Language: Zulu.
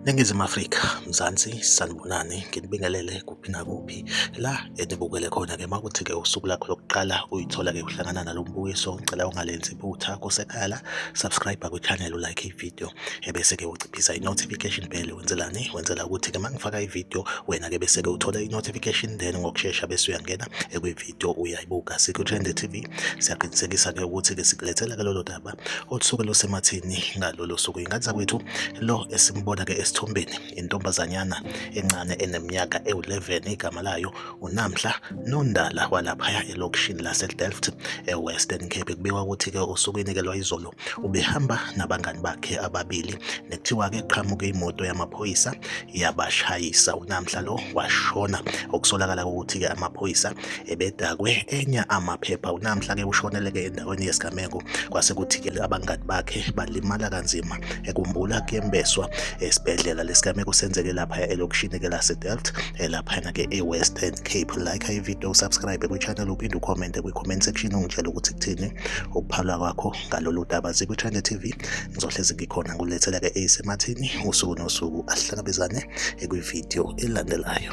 Ningizimu Afrika, Mzansi, sanibonani, nginibingelele kuphi nakuphi la enibukele khona-ke makuthi-ke usuku lakho lokuqala uyithola-ke uhlangana nalo mbukiso, ngicela ungalenzi iphutha kusekhaya la, subscribe kwi-channel, ulike ividiyo. ebese-ke uciphisa i-notification bell wenzelani wenzela ukuthi-ke uma ngifaka ividiyo wena-ke bese-ke uthole i-notification then ngokushesha bese uyangena ekwividiyo uyayibuka sikuthrende TV siyaqinisekisa-ke ukuthi-ke sikulethela-ke lolo daba olusuke lusemathini ngalolo suku ingane zakwethu lo esimbona-ke esithombeni intombazanyana encane eneminyaka ewu-11 igama layo unamhla nondala walaphaya elokishini lasedelft ewestern cape kubikwa ukuthi-ke osukwini-ke lwayizolo Ubehamba nabangani bakhe ababili nekuthiwa-ke qhamuke imoto yamaphoyisa yabashayisa. Unamhla lo washona okusolakala ukuthi-ke amaphoyisa ebedakwe enya amaphepha. Unamhla-ke ushoneleke endaweni yesigameko kwase kuthi-ke abangani bakhe balimala kanzima ekumbula kuyembeswa esibhedlela. Lesigameko senzeke lapha elokishini-ke laseDelft eh, laphana ke e-western cape like ivideo usubscribe kwichannel uphinde ucommente kwi-comment section ungitshela ukuthi kuthini ukuphalwa kwakho ngalolu daba zikwichannel tv ngizohlezi ngikhona ngulethela ke eyisemathini usuku nosuku asihlangabezane ekwivideo elandelayo